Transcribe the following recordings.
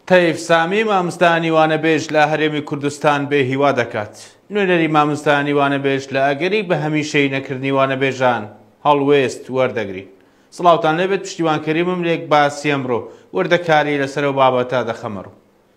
تەیف سامی مامستانی وانەبێژ لە هەرێمی کوردستان بێ هیوا دەکات نوێنەری مامستانی وانەبێژ لە ئەگەری بە هەمیشەی نەکردنی وانەبێژان هەڵوێست وەردەگرین سڵاوان لەبێت پشتیوانکەریمم لێک باسیەمڕۆ وردەکاری لەسەر و بابەتە دەخەمەڕوو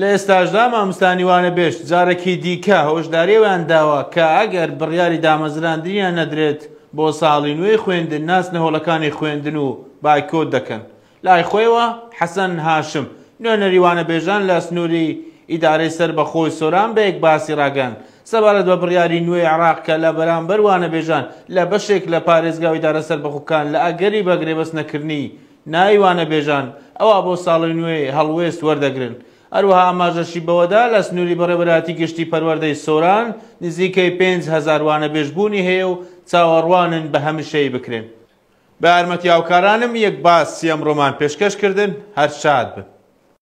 لە ئێستاشدا ماموستا نیوانە بێشت جارەکی دیکە هۆشداری ئەویان داوە کە ئەگەر بڕیاری دامەزراندنیان نەدرێت بۆ ساڵی نوێی خوێندن ناچنە هۆڵەکانی خوێندن و بایکۆت دەکەن. لای خۆیەوە حەسەن هاشم، نوێنەری وانەبێژان لە سنووری ئیدارەی سەربەخۆی سۆران بەیەک باسی ڕاگەیاند سەبارەت بە بڕیاری نوێی عێراق کە لە بەرامبەر وانەبێژان لە بەشێک لە پارێزگا و ئیدارە سەربەخۆکان لە ئەگەری بەگرێبەست نەکردنی ناوی وانەبێژان ئەوا بۆ ساڵی نوێی هەڵوێست وەردەگرن. هەروەها ئاماژەشی بەوەدا لە سنووری بەڕێوەبەرایەتی گشتی پەروەردەی سۆران نزیکەی پێنج هەزار وانەبێژ بوونی هەیە و چاوەڕوانن بە هەمیشەیی بکرێن. بە یارمەتی هاوکارانم یەک باس سییەم ڕۆمان پێشکەش کردن، هەر شاد بن.